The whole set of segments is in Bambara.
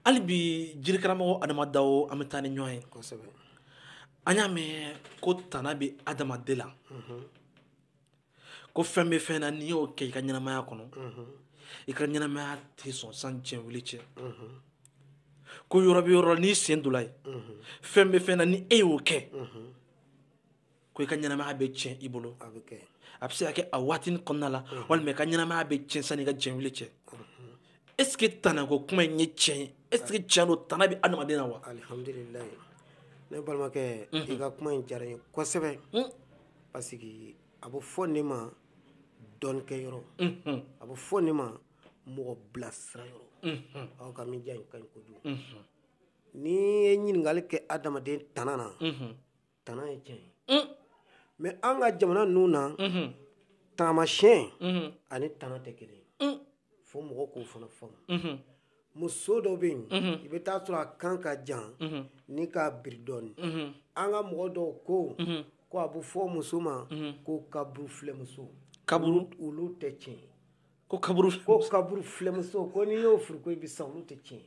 hali bi jirikaramɔgɔ adama dawo an bɛ taa ni ɲɔgɔn ye kosɛbɛ an y'a mɛn ko tana bɛ adamaden la mhm. ko fɛn bɛ fɛn na n'i y'o kɛ i ka ɲɛnamaya kɔnɔ mhm. i ka ɲɛnamaya tɛ sɔn sani diɲɛ wuli cɛ mhm. ko yɔrɔ bɛ yɔrɔ la n'i sen donna yen fɛn bɛ fɛn na ni e y'o kɛ ko i ka ɲɛnamaya bɛ tiɲɛ i bolo a bɛ se ka kɛ a waatinin kɔnɔna la walima i ka ɲɛnamaya bɛ tiɲɛ sani i ka diɲɛ wuli cɛ est ce que tanako kuma in ye tiɲɛ ye est ce que tiɲɛ don tana bɛ adamaden na wa alihamdulilayi ne balimakɛ mhm. i ka kuma in diyara n ye kosɛbɛ mhm. parce que a bɛ fɔ nin ma dɔnnikɛyɔrɔ mhm. a bɛ fɔ nin ma mɔgɔ bilasira yɔrɔ aw ka média in ka ɲi kojugu n'i ye ɲininkali kɛ adamaden tana na tana ye tiɲɛ ye mais an ka jamana ninnu na taamasiyɛn ani tana tɛ kelen fo mɔgɔ k'o fana faamu muso dɔ bɛ yen i bɛ taa sɔrɔ a kan ka jan ni k'a biri dɔɔnin an ka mɔgɔ dɔw ko ko a bɛ fɔ muso ma ko kaburu filɛmuso kaburu olu tɛ tiɲɛ ko kaburu ko kaburu filɛmuso ko n'i y'o furu ko i bɛ sa olu tɛ tiɲɛ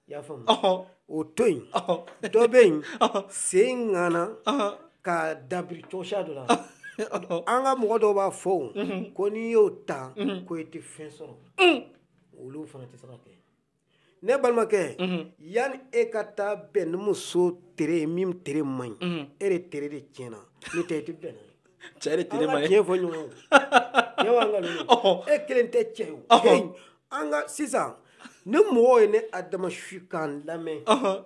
i y'a faamu o to yen dɔ bɛ yen sen ŋana ka dabiri cogoya dɔ la an ka mɔgɔ dɔw b'a fɔ o ko n'i y'o ta ko i tɛ fɛn sɔrɔ olu fana tɛ se ka kɛ ne balimakɛ yanni e ka taa bɛn ni muso tere ye min tere man ɲi e de tere de tiɲɛna n'o tɛ i tɛ bɛn n'a ye cɛ de tere man ɲi an ka tiɲɛ fɔ ɲɔgɔn ye cɛ b'an ka ninnu e kelen tɛ cɛ ye o an ka sisan ni mɔgɔw ye ne adama su k'an lamɛn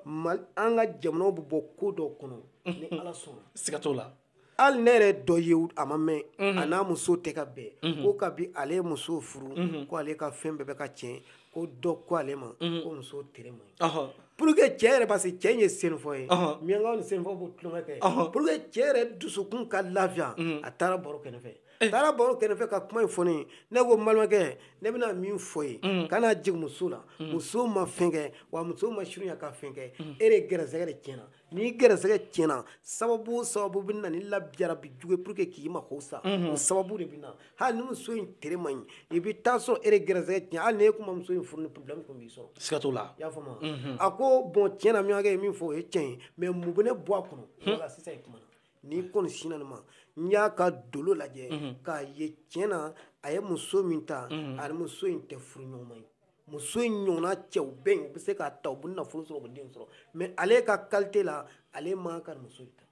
mali an ka jamanaw bɛ bɔ ko dɔ kɔnɔ ni ala sɔnna siga t'o la hali ne yɛrɛ dɔ ye a ma mɛn a n'a muso tɛ ka bɛn ko kabi ale ye muso furu ko ale ka fɛn bɛɛ bɛ ka tiɲɛ ko dɔ ko ale ma mhm. ko muso tere man ɲi pour que cɛ yɛrɛ parce que cɛ in ye senufɔ ye miyankaw ni senufɔ b'o tulonkɛ kɛ pour que cɛ yɛrɛ dusukun ka lafiya mhm. a taara baro kɛnɛ fɛ eh. taara baro kɛnɛ fɛ ka kuma in fɔ ne ye ne ko balimakɛ ne bɛna min fɔ i ye mhm. kana jigin muso la muso ma fɛn kɛ wa muso ma surunya ka fɛn kɛ e de gɛrɛsɛgɛ de tiɲɛna n'i gɛrɛsɛgɛ tiɲɛna sababu o sababu bɛ na ni labijarabi jugu ye pour que k'i mako sa o sababu de bɛ na hali ni muso in tere man ɲi i bɛ taa sɔrɔ e de gɛrɛsɛgɛ tiɲɛ hali n'e tun ma muso in furu nin problème tun b'i sɔrɔ siga t'o la i y'a faamu wa a ko bon tiɲɛ na miɲankɛ ye min fɔ o ye tiɲɛ ye mais mun bɛ ne bɔ a kɔnɔ wala sisan i kumana n'i kɔni sinna nin ma n y'a ka dolo lajɛ k'a ye tiɲɛ na a ye muso min ta ani muso in tɛ furu ɲɔgɔnma ye muso in ɲɔgɔnna cɛw bɛ yen u bɛ se k'a ta u bɛ nafolo sɔrɔ u bɛ den sɔrɔ mais ale ka qualité la ale man ka muso ta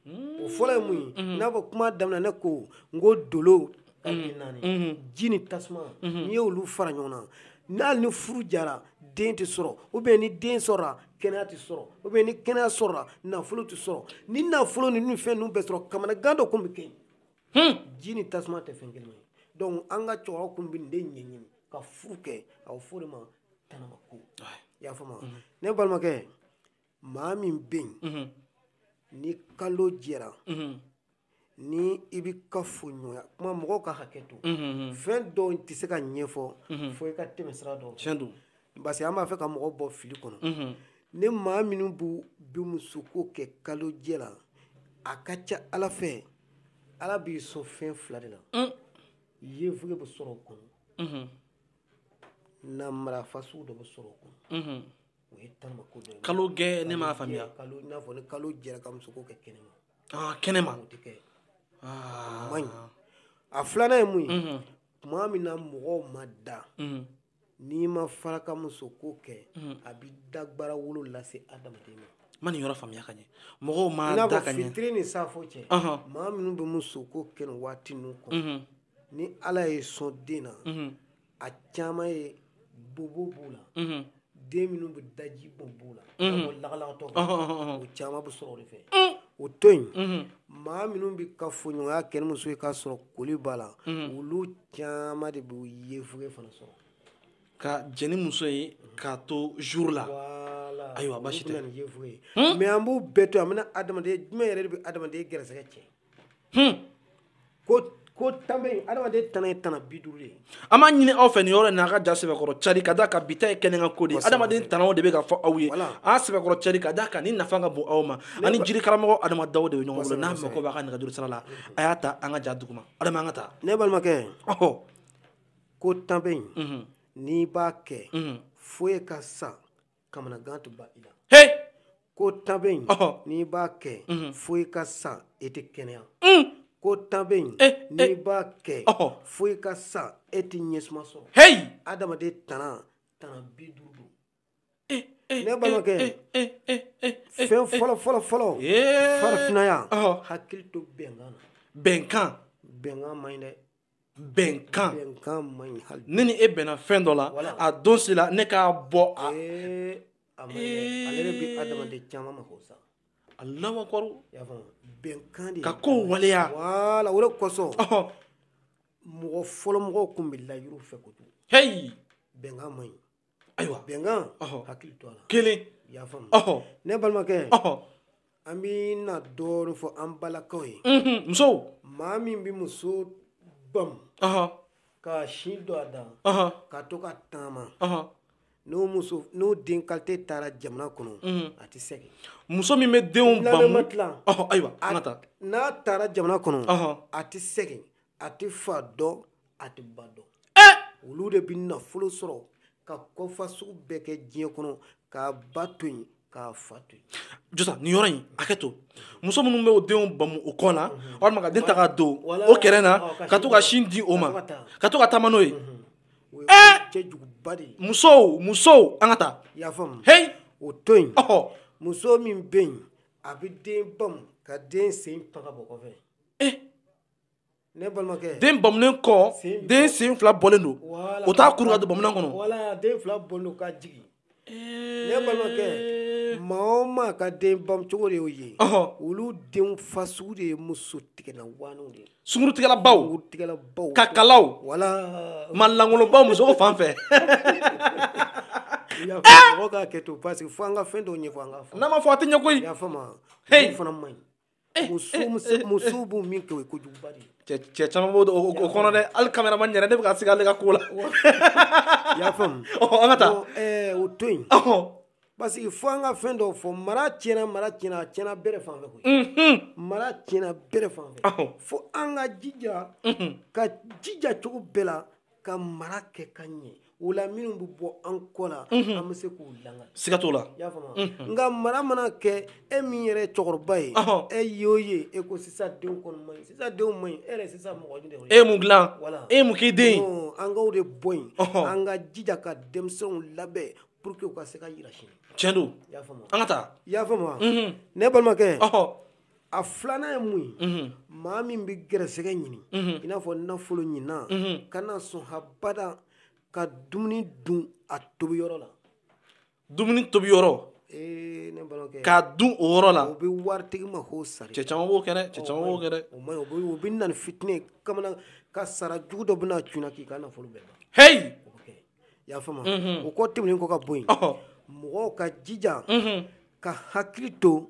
o fɔlɔ ye mun ye mm-hmm. n'a fɔ kuma daminɛ ne ko n ko dolo ka mm-hmm. naani mm-hmm. ji ni tasuma n'i ye olu fara ɲɔgɔn na hali ni furu diyara den tɛ sɔrɔ ou bien ni den sɔrɔla kɛnɛya tɛ sɔrɔ ou bien ni kɛnɛya sɔrɔla nafolo tɛ sɔrɔ ni nafolo ni fɛn ninnu bɛɛ sɔrɔ kamanagan dɔ tun bɛ kɛ yen hmm. ji ni tasuma tɛ fɛn kelen ye donc an ka cɛkɔrɔba kun bɛ nin de ɲɛɲini ka furu kɛ a bɛ fɔ o de ma tanamako i y'a faamu mhm. ne balimakɛ maa min bɛ yen mhm. ni kalo jɛra mhm. ni i bɛ kafoɲɔgɔnya kuma mɔgɔw ka hakɛ to fɛn dɔw tɛ se ka ɲɛfɔ fo i ka tɛmɛ sira dɔw fɛ parce que an b'a fɛ ka mɔgɔ bɔ fili kɔnɔ mhm. ni maa minnu bɛ musoko kɛ kalojɛ la a ka ca ala fɛ ala b'i sɔn fɛn fila de la mm. yefuge bɛ sɔrɔ o kɔnɔ mhm. namara fasugu dɔ bɛ sɔrɔ o kɔnɔ mhm. o ye tanamako dɔ ye kalojɛ ne m'a faamuya kalo i n'a fɔ ni kalo jɛra ka musoko kɛ kɛnɛma ah, kɛnɛma o tɛ kɛ ah. a man ɲi a filanan ye mun ye tuma min na mɔgɔw ma da n'i ma fara ka musoko kɛ hmm. a bɛ dagbara wolo lase adamaden ma n ma nin yɔrɔ faamuya ka ɲɛ mɔgɔw ma da ka ɲɛ fitiri ni safo cɛ maa minnu bɛ musoko kɛ nin waati ninnu kɔnɔ mhm. ni ala y'i sɔn den na mhm. a caman ye bobo b'u la mhm. den minnu bɛ daji bɔn b'u la lagalagatɔ o caman bɛ sɔrɔ o de fɛ mm. o to yen maa minnu bɛ kafoɲɔgɔnya kɛ ni muso ye k'a sɔrɔ koli b'a la olu caman de b'o yefuge fana sɔrɔ ka jɛn ni muso ye k'a to joli la ayiwa basi tɛ mais an b'u bɛɛ to an bɛna adama fɛn jumɛn yɛrɛ de bɛ adamaden gɛrɛsɛgɛ tiɲɛ ko ko tan bɛ yen adamaden tana ye tana bi duuru ye an b'a ɲini aw fɛ nin yɔrɔ in na a ka ja sɛbɛkɔrɔ cari ka d'a kan bi ta ye kɛnɛkan ko de ye adamaden tanaw de bɛ ka fɔ aw ye a sɛbɛkɔrɔ cari ka d'a kan nin nafa ka bon aw ma an ni jiri karamɔgɔ adama daw de bɛ ɲɔgɔn bolo n'a mako b'a ka nɛgɛjuru sira la a y'a ta an ka ja duguma adama an ka taa ne balimakɛ ɔhɔ ko tan bɛ yen mhm. n'i b'a kɛ mhm. fo e ka sa kamanagan tɛ ban i la he ko tan bɛ yen ɔhɔ n'i b'a kɛ mhm. fo e ka sa e tɛ kɛnɛya mm. ko tan bɛ yen eh, n'i eh. b'a kɛ ɔhɔ fo e ka sa e tɛ ɲɛsuma sɔrɔ hei adamaden tana tana bi duuru ne balimakɛ fɛn fɔlɔ fɔlɔ fɔlɔ farafinaya hakili to bɛnkan na bɛnkan bɛnkan man ɲi dɛ bɛnkan bɛnkan man ɲi hali ne ni e bɛnna fɛn dɔ la a don si la ne k'a bɔ a a man ɲi ale de bɛ adamaden caman mako sa Alahu akbar bɛnkan de ka kow waleya wala o de kosɔn mɔgɔ fɔlɔ mɔgɔw tun bɛ layiru fɛ kojugu heyi bɛnkan man ɲi ayiwa bɛnkan hakili to a la kelen i y'a faamu ne balimakɛ an bɛ na dɔɔnin fɔ an balakaw ye musow maa min bɛ muso bamu ka sin don a da ka to ka taama n'o den kalite taara jamana kɔnɔ a tɛ segin muso min bɛ denw bamu ayiwa n'a taara jamana kɔnɔ a tɛ segin a tɛ fa dɔn a tɛ ba dɔn eh! olu de bɛ nafolo sɔrɔ ka kɔfa sugu bɛɛ kɛ diɲɛ kɔnɔ k'a ba to yen k'a fa to yen jɔsa nin yɔrɔ in hakɛ to muso minnu bɛ o denw bamu o kɔ la mhm. walima ka den ta k'a don o kɛrɛ na oh, ka to ka sin di o ma ka to ka taama n'o ye mhm. eh! cɛjuguba de ye musow musow an ka taa i y'a faamu heyi o to yen muso min bɛ yen a bɛ den bamu ka den sen fila bɔ kɔfɛ eh! den bamunen kɔ den sen fila bɔlen don o t'a kuru ka don bamunan kɔnɔ ne balimakɛ maa o maa ka den bamucogo de y'o ye olu denw fasugu de ye musotigɛla waanew de ye sungurutigɛlabaw tigɛlabaw kakalaw wala maa langolonbaw muso ko fan fɛ mɔgɔ ka hakɛ to parce que fo an ka fɛn dɔw ɲɛfɔ an ka fɔ n'a ma fɔ a tɛ ɲɛ koyi i y'a faamu olu fana man ɲi musow b'o min kɛ o ye kojuguba de ye cɛ caman b'o o kɔnɔ dɛ hali kameraman yɛrɛ ne bɛ ka siga ale ka ko la i y'a faamu an ka taa o to yen parce que fo an ka fɛn dɔw fɔ mara tiɲɛna mara tiɲɛna a tiɲɛna bɛɛ de fan fɛ koyi mara tiɲɛna bɛɛ de fan fɛ fo an ka jija ka jija cogo bɛɛ la ka mara kɛ ka ɲɛ o la minnu bɛ bɔ an kɔ la mhm. an bɛ se k'u langa siga t'o la i y'a faamu mhm. nka mara mana kɛ e min yɛrɛ ye cɛkɔrɔba ye e y'o ye e ko sisan denw kɔni man ɲi sisan denw man ɲi e yɛrɛ sisan mɔgɔ ɲini de e ye mun dilan e ye mun k'i den ye an k'o de bɔ yen an ka jija ka denmisɛnw labɛn pour que u ka se ka yira sini tiɲɛ don i y'a faamu an ka taa i y'a faamu mhm. ne balimakɛ a filanan ye mun ye maa min bɛ gɛrɛsɛgɛ ɲini i n'a fɔ nafolo ɲinina kana sɔn habada ka dumuni dun a tobi yɔrɔ la dumuni tobi yɔrɔ ee ne balimakɛ k'a dun o yɔrɔ la o bɛ waritigi ma k'o sari cɛ caman b'o kɛ dɛ cɛ caman b'o kɛ dɛ o man ɲi o bɛ o bɛ na ni fitinɛ ye kamana kasara jugu dɔ bɛna cunna k'i ka nafolo bɛɛ ban heyi o bɛ kɛ i y'a faamu o kɔ tɛmɛnen kɔ ka bɔ yen ɔhɔ mɔgɔw ka jija ka hakili to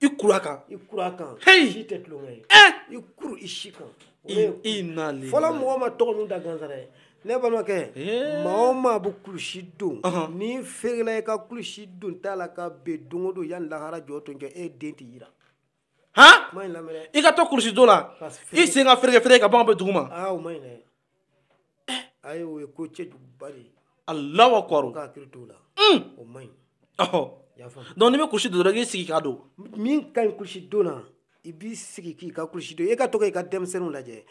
i kuru a kan i kuru a kan hey si tɛ tulonkɛ ye eh! i kuru i si kan i nali fɔlɔ mɔgɔ ma tɔgɔ ninnu da gansan dɛ ne balimakɛ eh! maa o maa bɛ kulusi don n'i feerela i ka kulusi dontɔ la ka bin don o don yan ni lahara jɔ to jɔ e den tɛ yira han i ka to kulusi don la i sen ka feere feere ka ban bin dugu ma aa o man ɲi dɛ ayi o ye ko cɛjuguba de ye alahu akubaru ka hakili t'o la mm. o man ɲi ɔhɔ donc n'i bɛ kulusi don dɔrɔn i k'i sigi k'a don min ka ɲi kulusi don na i b'i sigi k'i ka kulusi don e ka to ka i ka denmisɛnninw lajɛ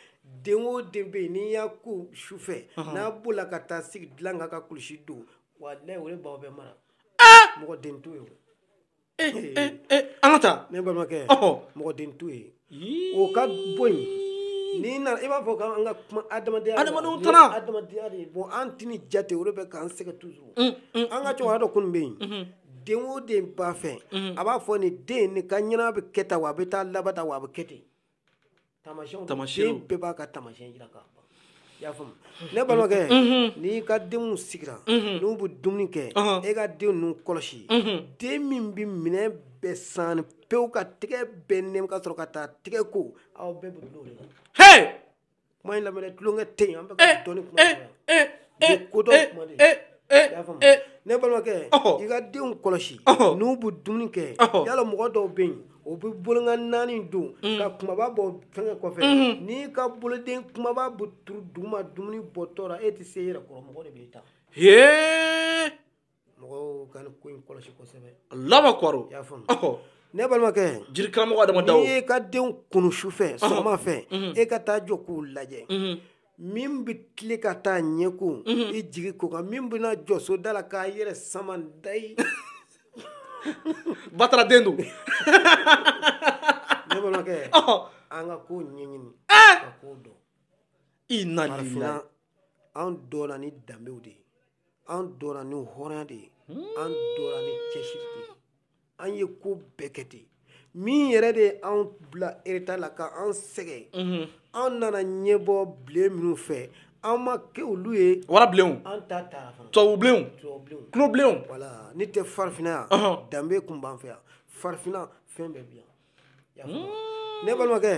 den o den bɛ yen n'i y'a ko su fɛ n'a bolila ka taa sigi dilan kan ka kulusi don walayi o de b'aw bɛɛ mara mɔgɔ den t'o ye an ka taa ne balimakɛ mɔgɔ den t'o ye o ka bɔ yen ni i b'a fɔ k'an ka kuma adamadenya adamadenw taara adamadenya de bon an tɛ nin jate o de bɛ k'an sɛgɛn toujours an ka cɛkɔrɔba dɔ kun bɛ yen den o den b'a fɛ a b'a fɔ nin den nin ka ɲɛna bɛ kɛ tan wa a bɛ taa laban tan wa a bɛ kɛ ten tamasiyɛnw tamasiyɛnw den bɛɛ b'a ka tamasiyɛn jira ka ban i y'a faamu ne balimakɛ n'i ka denw sigira n'u bɛ dumuni kɛ e ka den ninnu kɔlɔsi den min bɛ minɛn bɛɛ san pewu ka tɛgɛ bɛɛ nɛmu ka sɔrɔ ka taa tɛgɛ ko aw bɛɛ bɛ dulon o de la kuma in lamɛn tulonkɛ tɛ yen an bɛ ka eh, dɔnni kuma eh, eh, eh, kodɔn eh, kuma de eh, eh, y'a faamu eh, ne balimakɛ ɔhɔ. i ka denw kɔlɔsi Ɔhɔ. n'u bɛ dumuni kɛ Ɔhɔ. yala mɔgɔ dɔw bɛ yen o bɛ bolonkɔni naani don ka kumaba bɔ fɛngɛ kɔfɛ n'i ka boloden kumaba bɛ turu duguma dumuni bɔtɔ la e tɛ se i yɛrɛ kɔrɔ mɔgɔ de b'i ta hee mɔgɔw ka nin ko in kɔlɔsi kosɛbɛ ne balimakɛ jiri karamɔgɔ adama dawo e ka denw kunun su fɛ sɔgɔma fɛ e ka taa jɔ k'u lajɛ min bɛ tilen ka taa ɲɛ ko i jigi k'o kan min bɛna jɔ soda la k'a yɛrɛ sama dayi batara den don ne balimakɛ an ka ko ɲɛɲini ka ko dɔn farafinna an dɔnna ni danbew de ye an dɔnna ni hɔrɔnya de ye an dɔnna ni cɛsiri de ye an ye ko bɛɛ kɛ ten min yɛrɛ de ye anw bila eretari la ka an sɛgɛn an nana ɲɛbɔ bilen minnu fɛ an ma kɛ olu ye warabilenw an ta taara fana tubabubilenw tubabubilenw tulobilenw wala n'o tɛ farafinna yan danbe tun b'an fɛ yan farafinna fɛn bɛɛ bɛ yan hmm. ne balimakɛ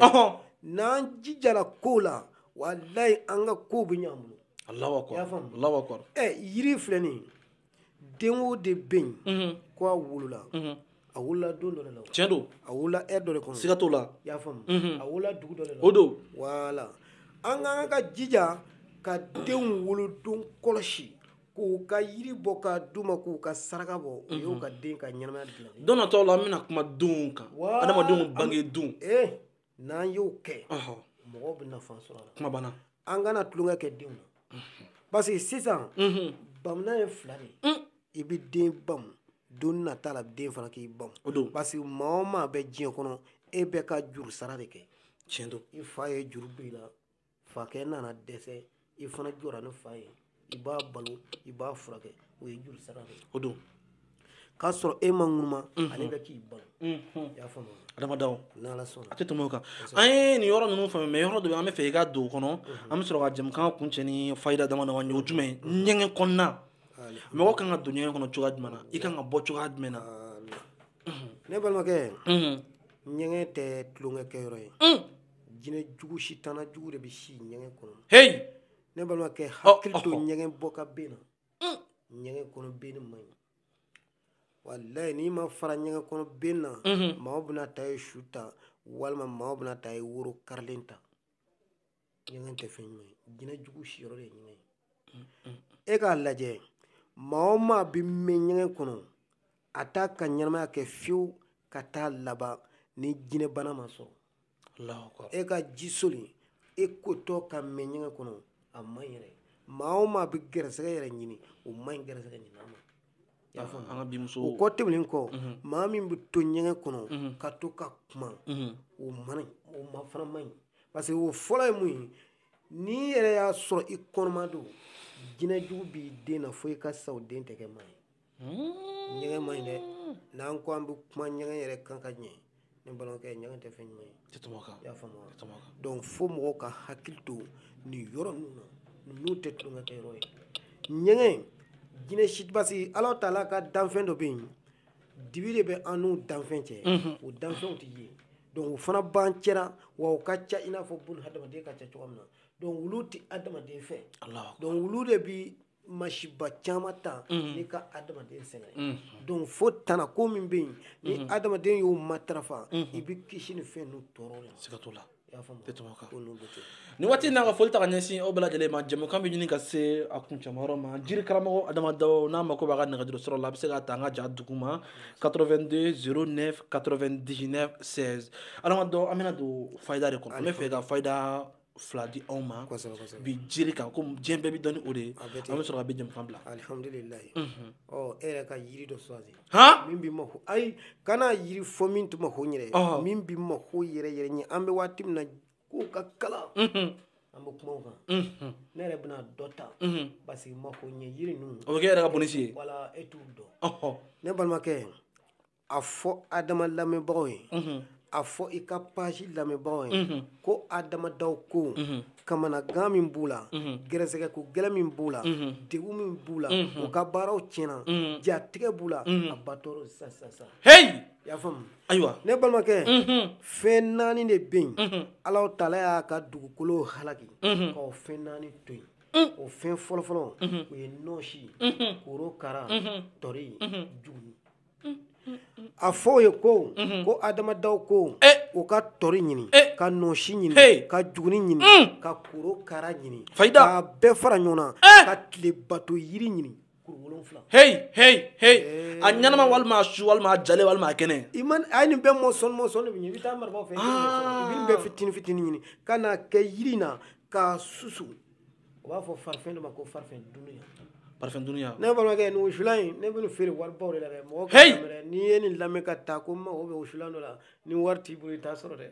n'an jijara kow la walayi an ka kow bɛ ɲɛ an bolo Allahu akbar y'a faamu Allahu akbar ɛ yiri filɛ nin ye den o den bɛ yen mhm. ko a wolola mhm. a wolola don dɔ de la tiɲɛ don a wolola heure dɔ de kɔnɔ siga t'o la y'a faamu mhm. a wolola dugu dɔ de la o don wala an ka kan ka jija ka denw wolodon kɔlɔsi k'u ka yiri bɔ k'a d'u ma k'u ka saraka bɔ o y'u mhm. ka den ka ɲɛnamaya dilan de ye don nataw la an bɛna kuma denw kan adamadenw bange don eh, n'an y'o kɛ mɔgɔw bɛ nafa sɔrɔ a la kuma banna an kana tulonkɛ kɛ denw na mhm. parce que sisan mhm. bamunan ye fila de ye mm. i bɛ den bamu don nata la den fana k'i bamu parce que maa o maa bɛ diɲɛ kɔnɔ e bɛ ka juru sara de kɛ tiɲɛ don i fa ye juru don i la fakɛ nana dɛsɛ i fana jɔra ni fa ye i b'a balo i b'a furakɛ o ye juru sara de ye o don k'a sɔrɔ e ma ŋunuma mhm. ale bɛ k'i balo mhm. y'a faamu Adama Dawo n'ala sɔnna a tɛ tɛmɛ o kan an ye nin yɔrɔ ninnu faamu mais yɔrɔ dɔ bɛ yen an bɛ fɛ i ka don o kɔnɔ mhm. an bɛ sɔrɔ ka jɛmukan kuncɛ ni fayida dama dama ye o jumɛn ye ɲɛgɛn kɔnɔna mɔgɔ kan ka don ɲɛgɛn kɔnɔ cogoya jumɛn na i kan ka bɔ cogoya jumɛn na ne balimakɛ ɲɛgɛn tɛ tulonkɛ kɛ yɔrɔ ye jinɛ jugu sitana jugu de bɛ si ɲɛgɛn kɔnɔ heyi ne balimakɛ hakili to ɲɛgɛn bɔ ka ben na ɲɛgɛn kɔnɔ benni man ɲi walayi n'i ma fara ɲɛgɛn kɔnɔ ben na maaw bɛna taa e su ta walima maaw bɛna taa e woro karilen ta ɲɛgɛn tɛ fɛn ɲuman ye jinɛ jugu siyɔrɔ de ye ɲɛgɛn ye e k'a lajɛ maa o maa bɛ mɛn ɲɛgɛn kɔnɔ a t'a ka ɲɛnamaya kɛ fiyewu ka taa laban ni jinɛbana m'a sɔrɔ e ka ji soli e kotɔ ka mɛn ɲɛgɛn kɔnɔ a man ɲi yɛrɛ maa o maa bɛ gɛrɛsɛgɛ yɛrɛ ɲini o man ɲi gɛrɛsɛgɛ ɲinina ma o kɔ tɛmɛnen kɔ mhm. maa min bɛ to ɲɛgɛn kɔnɔ mhm. ka to ka kuma mhm. o ma o ma fana man ɲi parce que o fɔlɔ ye mun ye n'i yɛrɛ y'a sɔrɔ i kɔnɔma don jinɛ jugu b'i den na fo i ka sa o den tɛ kɛ maa ye ɲɛgɛn man ɲi dɛ n'an ko an bɛ kuma ɲɛgɛn yɛrɛ kan ka ɲɛ ne balimakɛ ɲɛgɛn tɛ fɛn ɲuman ye tɛ tɛmɛ o kan y'a faamu wa tɛ tɛmɛ o kan donc fo mɔgɔw ka hakili to nin yɔrɔ ninnu na ninnu tɛ tulonkɛ kɛ yɔrɔ ye ɲɛgɛn jinɛ si parce que ala taala ka danfɛn dɔ bɛ yen dibi de bɛ an n'u danfɛn cɛ mhm. o danfɛnw tɛ ye donc u fana b'an cɛla wa u ka ca i n'a fɔ bun hadamaden ka ca cogoya min na donc olu tɛ hadamaden fɛ donc olu de bi masiba caman ta n'i ka adamaden sɛgɛn donc fo tana ko min bɛ yen ni adamaden y'o matarafa i bɛ kisi ni fɛn ninnu tɔɔrɔ la siga t'o la nin waati in na ka foli ta ka ɲɛsin aw bɛɛ lajɛlen ma jɛmukan bɛ ɲini ka se a kuncɛmayɔrɔ ma jiri karamɔgɔ adama daw n'a mako b'a ka nɛgɛjuru sɔrɔ la a bɛ se k'a ta an ka ja duguma 82 09 99 16 adama daw an bɛna don fayida de kɔnɔ an bɛ fɛ ka fayida fila di aw ma bi jiri kan ko diɲɛ bɛɛ b'i dɔn ni o de ye an bɛ sɔrɔ ka bi jɛmukan bila alihamdulilayi mhm. ɔ e yɛrɛ ka yiri dɔ sɔrɔ min bɛ mako ayi kana yiri fɔ min tun mako yɛrɛ min bɛ mako yɛrɛ yɛrɛ ɲɛ an bɛ waati min na k'o ka kalan mhm. an bɛ kuma o kan mhm. ne yɛrɛ bɛna dɔ ta parce que mako ɲɛ yiri ninnu o bɛ kɛ e yɛrɛ ka bonisi ye wala e t'u dɔn ne balimakɛ a fɔ adama lamɛnbagaw ye a fɔ i ka page lamɛnbagaw ye ko adama daw ko kamanagan min b'u la gɛrɛsɛgɛ ko gɛlɛn min b'u la degun min b'u la u ka baaraw tiɲɛna jatigɛ b'u la a b'a tɔɔrɔ sasasa hei i y'a faamu ayiwa ne balimakɛ fɛn naani de bɛ yen ala taala y'a ka dugukolo halaki k'o fɛn naani to yen o fɛn fɔlɔfɔlɔ o ye nɔɔsi korokara tɔri juguni a fɔ u ye ko ko adama daw ko u ka tɔri ɲini ka nɔsi ɲini ka juguni ɲini ka korokara ɲini k'a bɛɛ fara ɲɔgɔn na ka tile bato yiri ɲini kuru wolonfila a ɲɛnama walima su walima ja walima kɛnɛ i a ye nin bɛɛ morceau morceau i bɛ taa marabaw fɛ bɛ fitinin fitinin ɲini ka n'a kɛ yiri na k'a susu u b'a fɔ farifɛn dɔ ma ko farifɛn dunuya farifɛn dunuya ne balimakɛ nin wusulan in ne bɛ nin feere waribaw de la dɛ mɔgɔ k'a lamɛn n'i ye nin lamɛn ka taa ko n mago bɛ wusulan dɔ la ni wari t'i bolo i t'a sɔrɔ dɛ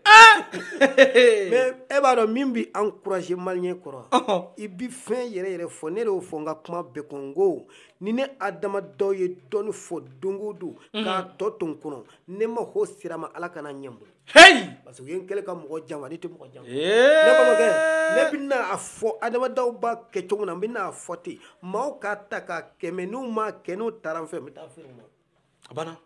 mais e b'a dɔn min bɛ encouragé maliyɛn kɔrɔ i bɛ fɛn yɛrɛ yɛrɛ fɔ ne de y'o fɔ n ka kuma bɛɛ kɔnɔ n ko ni ne adama daw ye dɔɔni fɔ don o don k'a tɔ to n kɔnɔ ne mago sera a ma ala kana a ɲɛ n bolo heyi parce que u ye n kɛlɛ ka mɔgɔ janfa ne tɛ mɔgɔ janfa ne balimakɛ ne bɛna a fɔ adama daw b'a kɛ cogo min na n bɛna a fɔ ten maaw k'a ta k'a kɛ mais n'u m'a kɛ n'u taara n fɛ n bɛ taa feere u ma a banna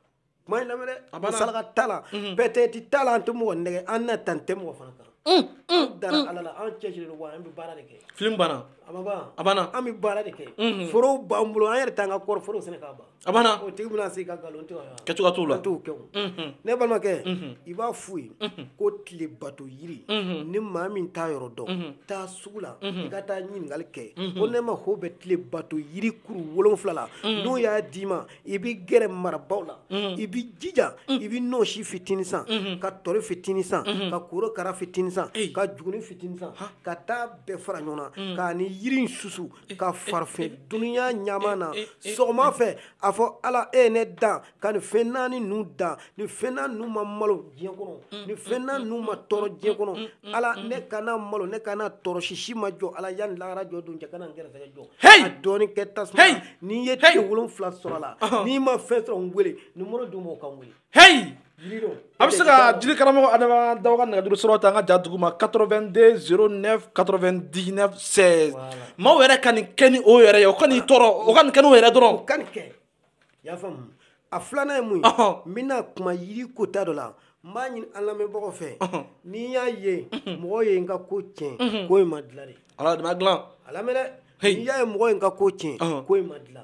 kuma in lamɛn dɛ a banna saraka t'a la mhm. peut-être t'a la an tɛ mɔgɔ nɛgɛ an nata tɛ mɔgɔ fana kan mm, mm, an dara mm. ala la an cɛsirilen don wa an bɛ baara de kɛ film banna a ma ban a banna an bɛ baara de kɛ mhm. forow b'an bolo an yɛrɛ t'an ka kɔɔri forow sɛnɛ k'a ban a banna o tigi bɛna se ka nkalon tigɛ kɛcogoya t'o la an t'o kɛ o mhm. ne balimakɛ mhm. i b'a f'u ye ko tile bato yiri ni maa min t'a yɔrɔ dɔn taa sugu la i ka taa ɲininkali kɛ ko ne mako bɛ tile bato yiri kuru wolonfila la n'u y'a d'i ma i bɛ gɛrɛ marabaw la i bɛ jija i bɛ nɔɔsi fitinin san ka tɔri fitinin san ka korokara fitinin san ka juguni fitinin san ka taa bɛɛ fara ɲɔgɔn na mm. k'a ni yiri in susu eh, ka eh, fara fɛn eh, dununya ɲama na sɔgɔma fɛ a fɔ ala e ye ne dan ka nin fɛn naani ninnu dan nin fɛn naani ninnu ma malo diɲɛ kɔnɔ mm, nin fɛn mm, naani ninnu ma tɔɔrɔ diɲɛ kɔnɔ ala ne kana malo ne kana tɔɔrɔ sisi ma jɔ ala yanni lahara jɔ don cɛ kana n gɛrɛsɛgɛ jɔ a dɔɔni kɛ tasuma n'i ye tile wolonfila sɔrɔ a la n'i ma fɛn sɔrɔ n wele nimoro d'u ma o ka n wele heyi a bɛ se ka jiri karamɔgɔ adama daw ka nɛgɛjuru sɔrɔ ta an ka ja dugu ma 82 09 99 16 maaw yɛrɛ ka nin kɛ ni o yɛrɛ ye o ka n'i tɔɔrɔ o ka nin kɛ n'o yɛrɛ dɔrɔn o ka nin kɛ i y'a faamu a filanan ye mun ye n bɛna kuma yiri kota dɔ la n b'a ɲini an lamɛnbagaw fɛ n'i y'a ye mɔgɔ ye n ka ko tiɲɛ ko in ma dilan de ala de ma dilan a lamɛn dɛ n'i y'a ye mɔgɔ ye n ka ko tiɲɛ ko in ma dilan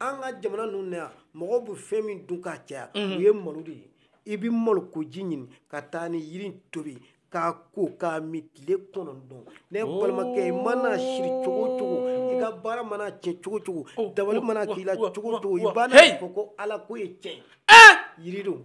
an ka jamana ninnu na yan mɔgɔw bɛ fɛn min dun k'a caya o ye malo de ye i bɛ malokoji ɲini ka taa ni yiri tobi k'a ko k'a min tile kɔnɔntɔn ne balimakɛ i mana siri cogo o cogo i ka baara mana tiɲɛ cogo o cogo dabali mana k'i la cogo o cogo i bɛna a fɔ ko ala ko ye tiɲɛ ye yiri don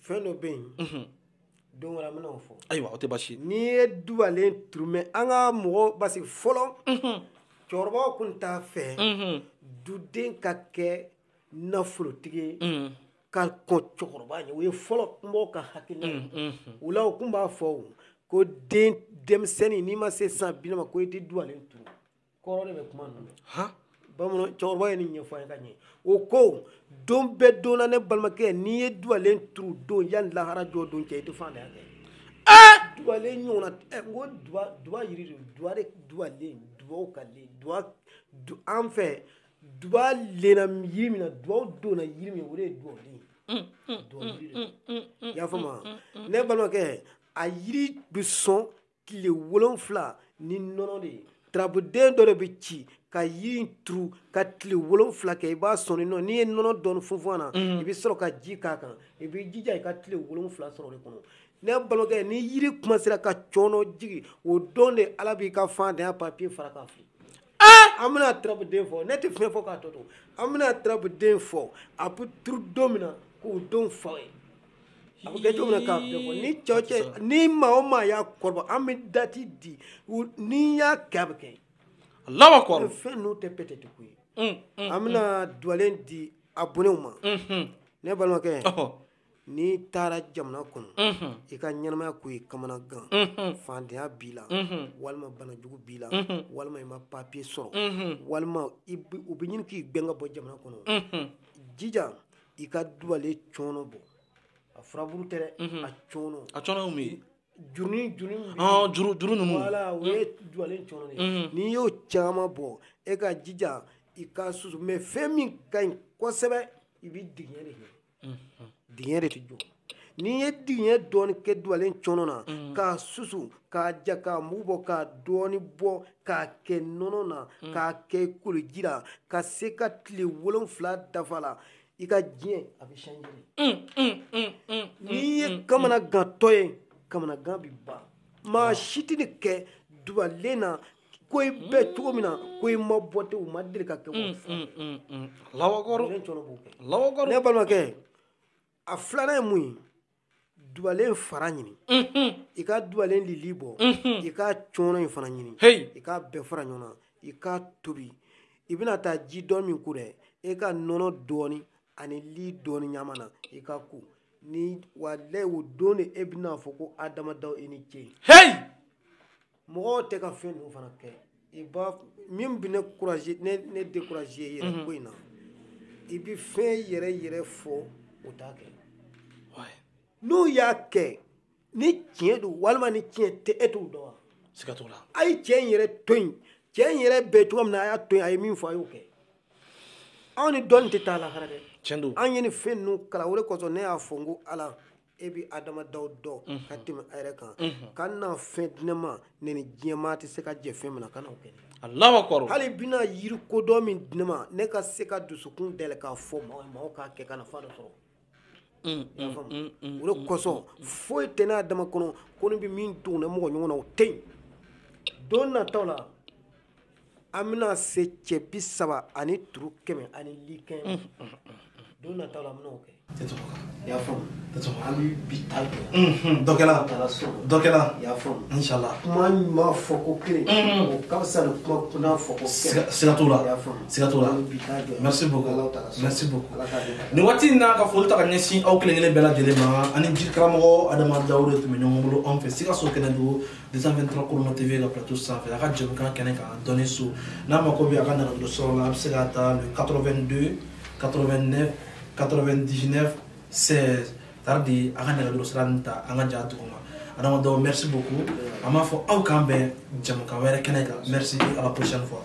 fɛn dɔ bɛ yen don wɛrɛ an bɛna o fɔ ayiwa o tɛ basi n'i ye duwalen turu mɛ an ka mɔgɔ parce que fɔlɔ cɛkɔrɔbaw kun t'a fɛ duden ka kɛ nafolotigi ye ka kɔn cɛkɔrɔba ɲɛ o ye fɔlɔ kunbaw ka hakilina ye o la u kun b'a fɔ ko den denmisɛnnin n'i ma se san bi naani ma ko i tɛ duwalen turu kɔrɔ de bɛ kuma ninnu na han bamanan cɛkɔrɔba ye nin ɲɛfɔ an ye ka ɲɛ o ko don bɛɛ don na ne balimakɛ n'i ye duwalen turu don yanni lahara jɔ don cɛ i tɛ faantanya kɛ ɛɛ duwalen ɲɔgɔnna ɛ n ko duwa duwa yiri de duwa de duwalen duwaw ka le duwa du an fɛ duwa lena yiri min na duwaw donna yiri min o de ye duwalen duwa yiri de i y'a faamu wa ne balimakɛ a yiri bɛ sɔn tile wolonfila ni nɔnɔ de ye turabuden dɔ de bɛ ci ka yiri in turu ka tile wolonfila kɛ i b'a sɔn nɔ n'i ye nɔnɔ dɔɔni funfun a na mm. i bɛ sɔrɔ ka ji k'a kan i bɛ jija i ka tile wolonfila sɔrɔ o de kɔnɔ ne balimakɛ ni yiri kuma sera ka cɔnɔ jigi o don de ala b'i ka faantanya papiye fara k'a fili an bɛna turabuden fɔ ne tɛ fɛn fɔ k'a tɔ to an bɛna turabuden fɔ a bɛ turu don min na k'o don fa ye a bɛ kɛ cogo min na k'a bɛɛ fɔ ni cɛw cɛ ni maa o maa y'a kɔrɔbɔ an bɛ dati di n'i y'a kɛ a bɛ kɛ Allahu akbar fɛn ninnu tɛ peut-être ko ye an bɛna duwalen di abɔnew ma ne balimakɛ n'i taara jamana kɔnɔ i ka ɲɛnamaya ko ye kamanagan faantanya b'i la walima banajugu b'i la walima i ma papiye sɔrɔ walima u bɛ ɲini k'i gɛn ka bɔ jamana kɔnɔ jija i ka dubalen cɔnɔ bɔ a furaburu tɛ dɛ a cɔnɔ a cɔnɔ mun ye jurunin jurunin juru juru ninnu wala o ye dubalen cɔnɔ de ye n'i y'o caman bɔ e ka jija i ka susu mais fɛn min ka ɲi kosɛbɛ i bɛ digiɲɛ de kɛ diɲɛ de tɛ jɔ n'i ye diɲɛ dɔɔni kɛ dubalen cɔnɔ na k'a susu k'a ja k'a mugu bɔ k'a dɔɔni bɔ k'a kɛ nɔnɔ na k'a kɛ koliji la ka se ka tile wolonfila dafa la i ka diɲɛ a bɛ changer n'i ye kamanagantɔ ye kamanagan bɛ ban maa si tɛ nin kɛ dubalen na ko i bɛ cogo min na ko i ma bɔ ten o ma deli ka kɛ ko mm, fila mm, mm, Allahu akbar Allahu akbar ne balimakɛ a filanan ye mun ye dubalen fara ɲini mm-hmm. i ka dubalen lili bɔ mm-hmm. i ka cɔnɔ in fana ɲini i ka bɛɛ fara ɲɔgɔn na i ka tobi i bɛna taa ji dɔɔni min ko dɛ e ka nɔnɔ dɔɔni ani li dɔɔni ɲaami a na i ka ko ni walayi o don de e bɛna fɔ ko Adama Dao i ni ce. mɔgɔw tɛ ka fɛn ninnu fana kɛ i b'a min bɛ ne courage ne ne décourager yɛrɛ ko in na i bɛ fɛn yɛrɛ yɛrɛ fɔ o t'a kɛ n'u y'a kɛ ni tiɲɛ don walima ni tiɲɛ tɛ e t'o dɔn wa siga t'o la a ye cɛ in yɛrɛ to yen cɛ in yɛrɛ bɛ cogo min na a y'a to yen a ye min fɔ a y'o kɛ anw ni dɔnni tɛ taa lahara dɛ tiɲɛ don an ye nin fɛn ninnu kalan o de kosɔn ne y'a fɔ n ko ala e bɛ Adama Dao dɔn ka tɛmɛ a yɛrɛ kan kana fɛn di ne ma ne ni diɲɛmaa tɛ se ka jɛ fɛn min na kana o kɛ Allahu akbar hali bɛna yiri kodɔn min di ne ma ne ka se ka dusukun dayɛlɛ k'a fɔ maaw maaw k'a kɛ ka nafa dɔ sɔrɔ o de kosɔn foyi tɛ ne Adama kɔnɔ ko ne bɛ min dogo ne mɔgɔ ɲɔgɔn na o tɛ yen don nataw la an bɛna se cɛ bi saba ani turu kɛmɛ ani likɛ don nataw la an bɛna o kɛ y'a an bɛ bi ta kɛ dɔ taara so dɔ y'a fɔla kuma ɲuman fɔ ko kelen ka fisa kuma kun fɔ ko siga t'o la y'a siga t'o la nin waati in n'an ka foli ta ka ɲɛsin aw kelenkelen bɛɛ lajɛlen ma ani jiri karamɔgɔ Adama Dao de tun bɛ ɲɔgɔn bolo anw fɛ sikaso kɛnɛdugu 223 korono tv ka plateau sanfɛ a ka jɛmukan kɛnɛ kan dɔnni so n'a mako bɛ a ka nɛgɛjuru sɔrɔ la a bɛ se k'a ta le 82 89 99 16 tardi a ka nɛgɛjuru sira nin ta an ka ja duguma Adama Dao merci beaucoup an b'a fɔ aw k'an bɛn jɛmukan wɛrɛ kɛnɛ kan merci à la prochaine fois